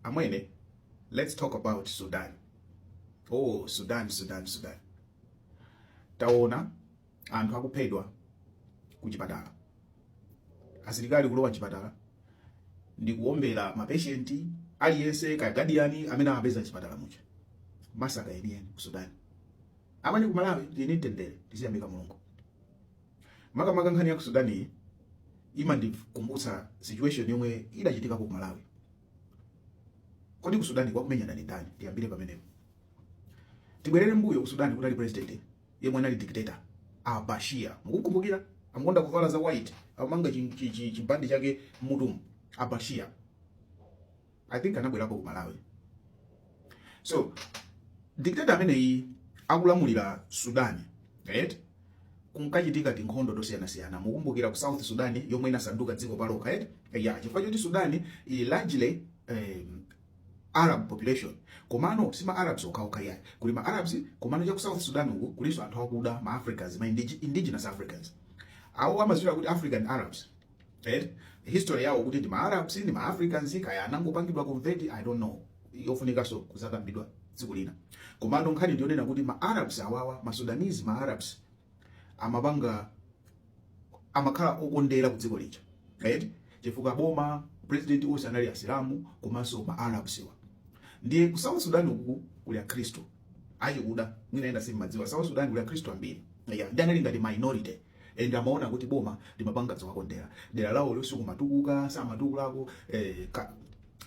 Amwene, let's talk about Sudan. Oh, Sudan, Sudan, Sudan. Taona anthu akuphedwa kuchipatala. Asilikali kulowa mchipatala ndi kuombera mapeshenti aliyense kaya guardian amene amapeza mchipatala muja. Massacre yeniyeni ku Sudan. Amwene ku Malawi tili ndi mtendere tidziyamika Mulungu. Makamaka nkhani ya ku Sudan iyi imandikumbutsa situation yomwe idachitikapo ku Malawi. Kodi ku Sudan akumenyana ndi ndani? Tiyambire pamenepo. Tibwerere mbuyo ku Sudan kunali president yemwe anali dictator a Bashir. Mukukumbukira? Amakonda kuvala za white, amanga chibandi chake mmutumo a Bashir. i think anabwerapo ku malawi so dictator ameneyi akulamulira sudan right kunkachitika tinkhondo tosiyanasiyana mukumbukira ku south sudan yomwe inasanduka dziko palokha right ya chifukwa choti sudan ili largely um, arab population komano si ma arabs okhaokha yayi kuli ma arabs komano cha ku south sudan uku kulinso anthu akuda ma africans ma indige- indigenous africans awa amanena kuti african arabs eh? history yawo kuti ndi ma Arabs ndi ma Africans kaya anangopangidwa convert I don't know yofunikanso kuzakambidwa tsiku lina komano nkhani ndi yonena kuti ma Arabs awawa ma Sudanese ma Arabs amapanga amakhala okondera ku dziko lija right chifukwa boma president onse anali asilamu komanso ma Arabs wa ndiye ku South Sudan uku kuli akhristu achikuda mwina enanu simmadziwa South Sudan kuli akhristu ambiri yeah, ndiye anali ngati minority and amaona kuti boma limapanga zowakondera dera lawolo silimatukuka samatukulako eh, ka,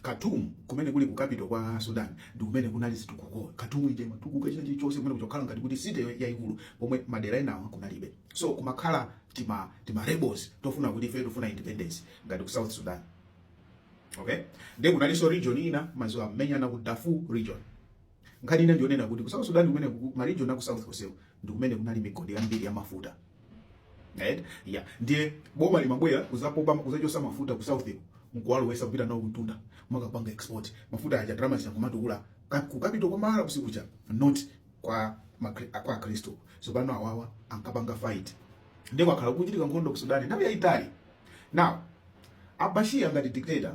Khartoum kumene kuli ku capital kwa Sudan ndi kumene kunali zitukuko Khartoum ija imatukuka china chilichonse kumene kunkakhala ngati kuti city yaikulu pomwe madera enawa kunalibe so kumakhala tima tima rebels tofuna kuti ife tofuna independence ngati ku South Sudan okay ndiye kunalinso region ina mmadziwa amamenyana ku Darfur region Nkhani ina ndiyonena kuti ku South Sudan kumene ku ma region a ku South konseku ndi kumene kunali migodi yambiri ya mafuta. Right? Yeah. Ndiye boma limabwera kuzapopa kuzachosa mafuta ku South nkuwalowesa kupita nawo kuntunda nkukapanga export mafuta aja ndalama zija nkumatukula ku capital kwa ma Arabs kuja not kwa makri, kwa Kristo so pano awawa ankapanga fight ndiye kwakhala kukuchitika nkhondo ku Sudan nthawi yaitali now a Bashir ngati dictator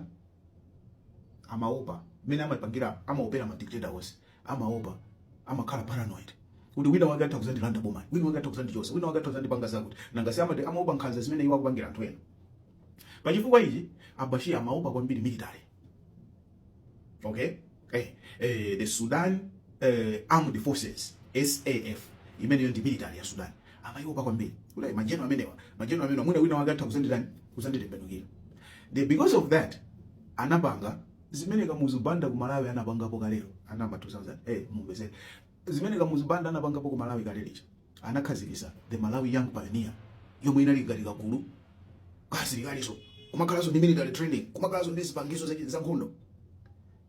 amaopa mmene amapangira amaopera ma dictator onse amaopa amakhala paranoid kuti wina wake atha kuzandilanda bomali wina wake atha kuzandichosa wina wake atha kuzandipanga zakuti nanga si amati amaopa nkhanza zimene iwo akupangira anthu ena pachifukwa ichi a Bashir amaopa kwambiri military okay eh, eh, the Sudan eh, Armed Forces SAF imeneyo ndi military ya Sudan amaiopa kwambiri kuti majeno amenewa majeno amenewa mwina wina wake atha kuzanditani kuzanditembenukira the because of that anapanga zimene kamuzu banda ku Malawi anapangapo kalero ana a m'ma 2000 eh mumvetse zimene kamuzu banda anapangapo ku Malawi kalero Anakhazikisa the Malawi Young Pioneer yomwe inali ngati kagulu ka asilikaliso kumakhalaso ndi military training kumakhalaso ndi zipangizo za nkhondo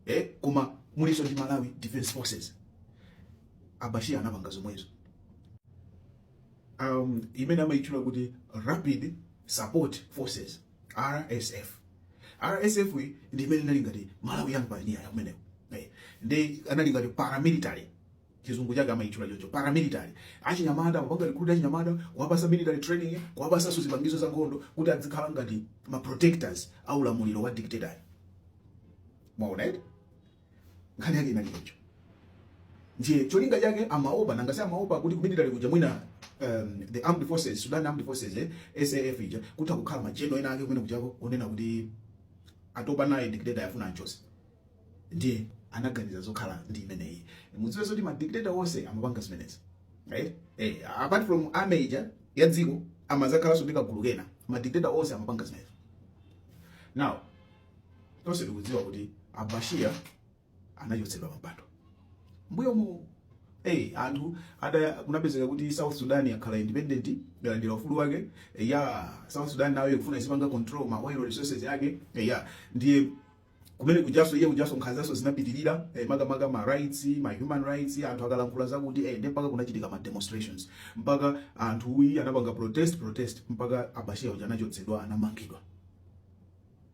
eh koma muliso ndi Malawi Defense Forces Al-Bashir anapanga zomwezo um, imene amaitchula kuti Rapid Support Forces RSF RSF ndi imene inali ngati Malawi Young Pioneer ya ameneyo eh, ndi anali ngati paramilitary chizungu chake amaitchula choncho paramilitary achinyamata kupanga recruit achinyamata kuwapasa military training kuwapasaso zipangizo za nkhondo kuti adzikhala ngati ma protectors a ulamuliro wa dictator mwaona eti nkhani yake inali choncho ndiye cholinga chake amaopa nanga si amaopa kuti kumilitary kuja mwina um, the armed forces sudan armed forces eh, saf ija kutha kukhala majeno ena ake kumene kujako onena kuti atopa naye dictator afuna anchose ndiye anaganiza zokhala ndi imeneyi mudziwe zoti madictator onse amapanga zimenezi right eh apart from army ija ya dziko amazakhalanso ndi kagulu kena madictator onse amapanga zimenezi now tonse tikudziwa kuti Al-Bashir anachotsedwa pampando mbuyomu Hey, anthu ada kunapezeka kuti South Sudan yakhala independent yalandira ufulu wake ya South Sudan nayo ikufuna izipanga control ma oil resources yake ya ndiye kumene kujaso iye kujaso nkhanzaso zinapitirira eh, makamaka ma rights ma human rights anthu akalankhula zakuti eh, mpaka kunachitika ma demonstrations mpaka anthu uyi anapanga protest protest mpaka Al-Bashir uja anachotsedwa anamangidwa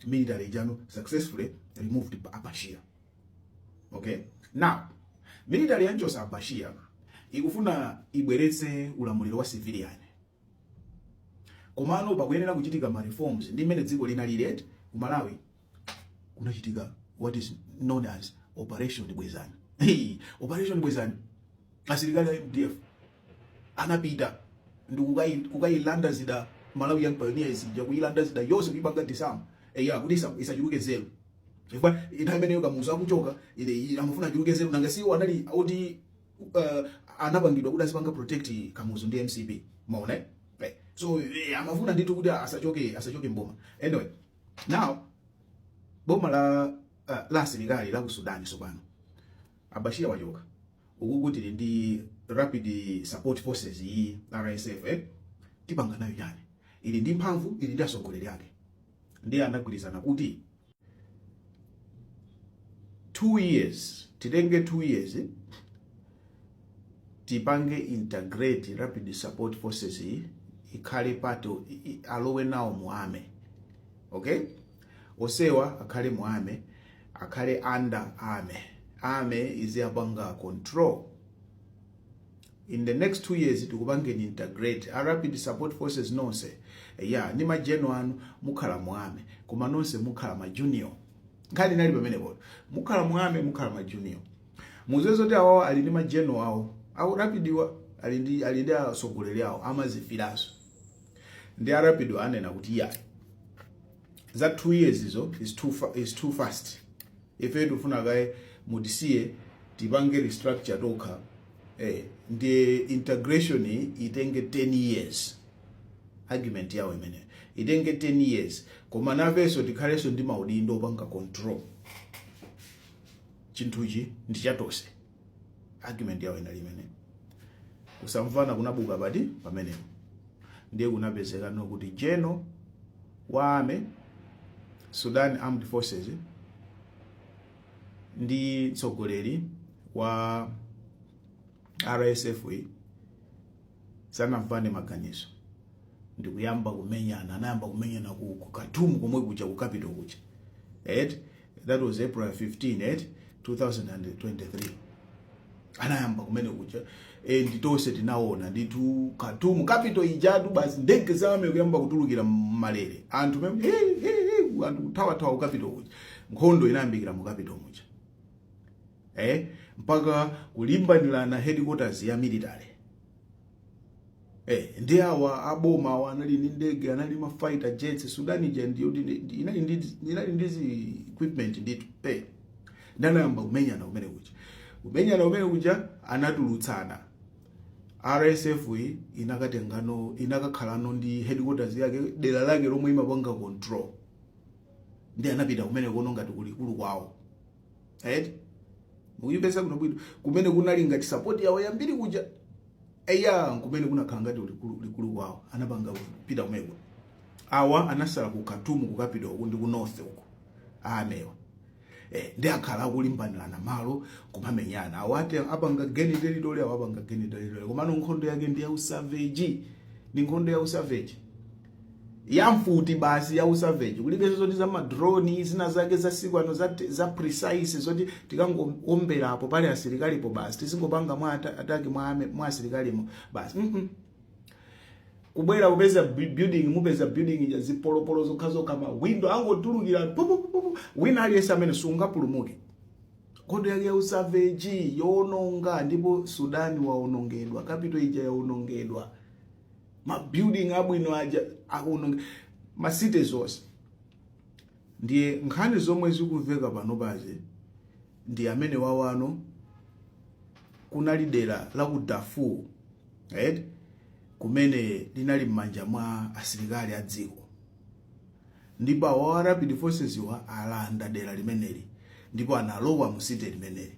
military ija now successfully removed Al-Bashir okay now military yanchosa Al-Bashir ikufuna ibweretse ulamuliro wa civilian komano pakuyenera kuchitika ma reforms ndi mmene dziko linaliri eti ku Malawi kunachitika what is known as operation bwezani hey, operation bwezani asilikali a mdf anapita ndi kukailanda zida malawi young pioneers ija kuilanda zida yonse kuipanga disarm eya kuti isachuluke nzeru chifukwa nthawi imeneyo kamuzu akuchoka iye amafuna achuluke nzeru nanga si iwo anali oti uh, anapangidwa kuti azipanga protect kamuzu ndi mcp mwaona eh? so eh, amafuna ndithu kuti asachoke asachoke mboma anyway Now, boma la uh, la asilikali la ku Sudan tsopano a Bashir achoka ukuku tili ndi rapid support forces iyi RSF eh? tipanga nayo chani ili ndi mphamvu ili ndi atsogoleri ake ndiye anagwirizana kuti 2 years titenge 2 years eh? tipange integrate rapid support forces iyi ikhale part o- i- i- alowe nawo mu army okay onsewa akhale mu army akhale under army army iziyapanga control in the next two years tikupangeni integrate a rapid support forces nonse ya ndi ma general anu mukhala mu army koma nonse mukhala majunior nkhani inali pamenepo mukhala mu army mukhala majunior Muziwe zoti awawa ali ndi ma general awo aku rapid-wa ali ndi ali ndi atsogoleri awo amazifilanso ndiye a rapid-wa anena kuti iya za 2 years izo is too, fa is too fast ife tikufuna kaye mutisiye tipange restructure tokha eh, ndi integration iyi itenge 10 years argument yawo imeneyo itenge 10 years koma nafenso tikhalenso ndi maudindo opanga control chinthuchi ndi cha tonse argument yawo inali imeneyo kusamvana kunabuka apa ndi pamenepo ndiye kunapezekano kuti general wa army sudan armed forces ndi mtsogoleri wa rsf yi sanamvane maganizo ndikuyamba kumenyana anayamba kumenyana ku, ku Khartoum komwe kuja ku capital kuja eti that was april 15 eti 2023 anayamba kumene kuja and tonse tinaona ndithu Khartoum capital ijatu basi ndege za army kuyamba kutulukira m'malere anthu mem- he, he, he, anthu kuthawathawa ku capital kuja nkhondo inayambikira mu capital muja eh mpaka kulimbanirana headquarters ya military Eh, ndi awa aboma awa anali ndi ndege anali ma fighter jets Sudan ija ndiyo ndi- inali ndi inali ndi zi equipment ndithu eh ndiye anayamba kumenyana kumene kuja kumenyana kumene kuja anatulutsana RSF yi inakatengano inakakhalano ndi headquarters yake dera lake lomwe imapanga control ndi anapita kumenekono ngati kulikulu kwawo eti mukuyipeza ku Darfur kumene kunali ngati support yawo yambiri kuja eya kumene kunakhala ngati likulu kwawo anapanga kupita kumeko awa anasala ku Khartoum ku capital uku ndi ku north uku army-wa eh, ndi akhala akulimbanirana malo kumamenyana awo ati apanga gain territory awo apanga gain territory komano nkhondo yake ndi ya usavage ndi nkhondo ya usavage ya mfuti basi ya usavage kulibenso zoti za madroni zina zake za siku ano za, za precise zoti tikangowomberapo pali asilikalipo basi tizingopanga mwa ata- ataki mwa, ame- mwa asilikalimo basi mm -mm. kubwera kupeza bu- building mupeza building ija zipolopolo zokhazokha mawindo angotulukira pu- pu- pu- pu- wina aliyense amene sungapulumuke nkhondo yake ya usavage yoononga ndipo sudani waonongedwa capital ija yaonongedwa ma building abwino aja akuononga ma cities onse ndiye nkhani zomwe zikumveka panopazi ndi amene wawano kunali dera la ku Darfur right? kumene linali m'manja mwa asilikali a dziko ndipo awa a rapid forces wa alanda dera limeneli ndipo analowa mu city limeneli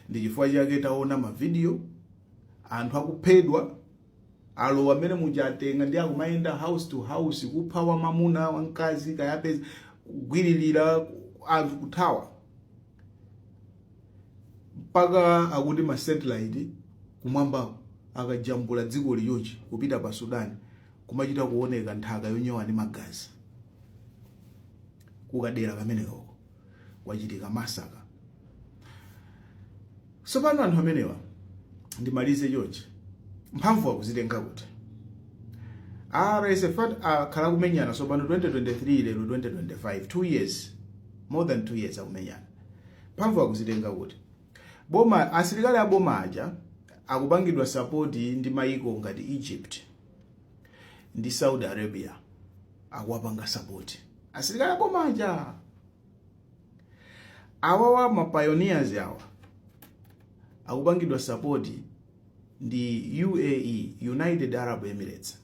ndi chifukwa chake taona mavidiyo anthu akuphedwa alowa mmene muja atenga ndi akumayenda house to house kupha wamamuna wamkazi akawapeza kugwiririra anthu kuthawa mpaka akuti ma satellite kumwambako akajambula dzikoli chonchi kupita pa sudani kumachita kuoneka nthaka yonyowa ndi magazi kukadera kamenekoko kwachitika massacre. Tsopano anthu amenewa ndimalize chonchi, mphamvu akuzitenga kuti? RSF akhala akumenyana tsopano 2023 lero 2025 2 years more than 2 years akumenyana. Mphamvu akuzitenga kuti? Boma asilikali a boma aja akupangidwa support ndi mayiko ngati Egypt ndi Saudi Arabia akuwapanga support. asilikali aboma aja awawa mapioneers awa akupangidwa sapoti ndi uae united arab emirates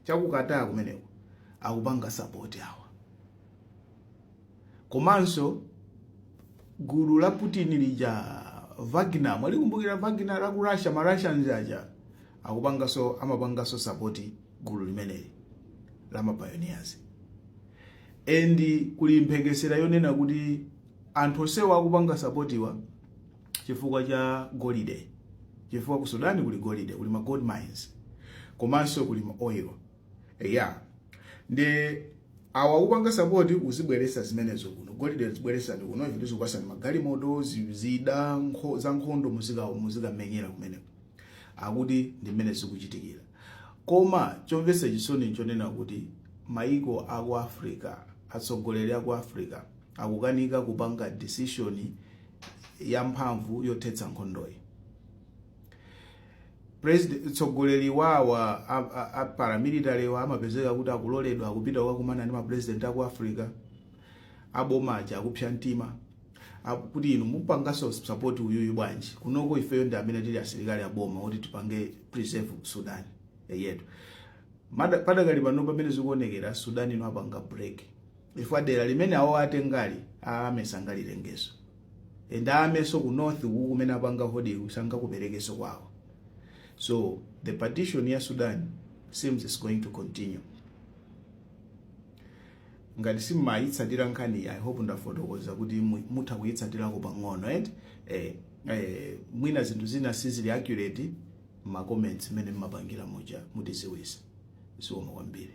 cha ku qatar kumeneko akupanga sapoti awa komanso gulu la putin lija wagner mwalikumbukira wagner la ku russia ma russians aja akupangaso amapangaso sapoti gulu limeneli la mapayoniyazi and kuli mphekesera yonena kuti anthu onsewa akupanga sapotiwa chifukwa cha golide chifukwa ku sudani kuli golide kuli ma gold mines komanso kuli ma oil eya ndi awa akupanga sapoti uzibweresa zimenezo kuno golide zibweresani kuno ife tizikupasani magalimoto zi- zida nkho- za nkhondo muzika- muzikamenyera kumeneko akuti ndi mmene zikuchitikira koma chomvetsa chisoni nchonena kuti maiko aku africa atsogoleri aku africa akukanika kupanga decision yamphamvu yothetsa nkhondoyi president mtsogoleri wawa a- a- a paramilitary-wa amapezeka kuti akuloledwa akupita kukakumana ndi mapresident aku africa aboma aja akupsa mtima Ah, kuti inu mupanganso support uyuyu bwanji kunoko ifeyo ndi amene tili asilikali aboma oti tipange preserve sudan yathu Mada- padakali pano pamene zikuonekera sudan ino ipanga break chifukwa dera limene awo atengali amene sangalitengenso and awanso ku north uku kumene apanga hold-ku sangakuperekenso kwawo so the partition ya sudan seems is going to continue ngati simumayitsatira nkhaniyi i hope ndafotokoza kuti mutha kuyitsatirako pang'ono eti eh, eh, mwina zinthu zina sizili accurate mma comments mmene mmapangira muja mutiziwisa zikomo kwambiri